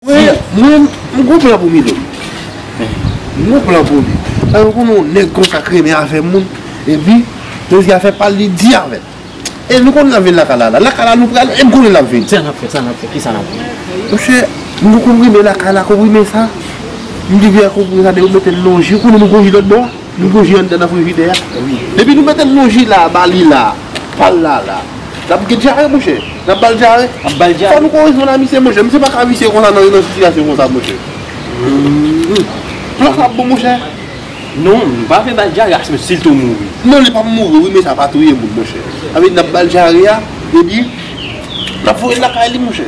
Mwen m gon plan pou Milo. M gon plan pou li. Paske m konnen yon nèg konsa k renmen afè moun. Epi, lè l gen afè pa l, li di avè l. E nou konnen l ap vin lakay la la. Lakay la nou pral e m konnen l ap vin. Sa n ap fè? Sa n ap fè? Kisa n ap fè? Monchè, m gen konprime lakay la. Konprime sa, m gen konprime sa depi w mete l nan yon ji. Ou konnen nou gen yon ji lòtbò a? Nou bwe vyann nan nan frijidè a wi. Depi nou metel non jila a bali la pal la la. Lap gen dyare monchè. Nap bal dyare. Ap bal dyare. Fò nou korije nan misye monchè. Misye pa ka visye konsa nan sitiyasyon konsa monchè. Plan sa ap bon monchè. Non nou pa vle bal dyare aswè sil to mouri. Non li pap mouri wi men sa pa touye moun monchè. Sa vle di nap bal dyare a epi nap voyel lakay li monchè.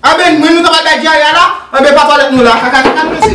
Amen mwen nou ta pral bay dyare a la anben pa twalèt nou la kaka kaka nou resi.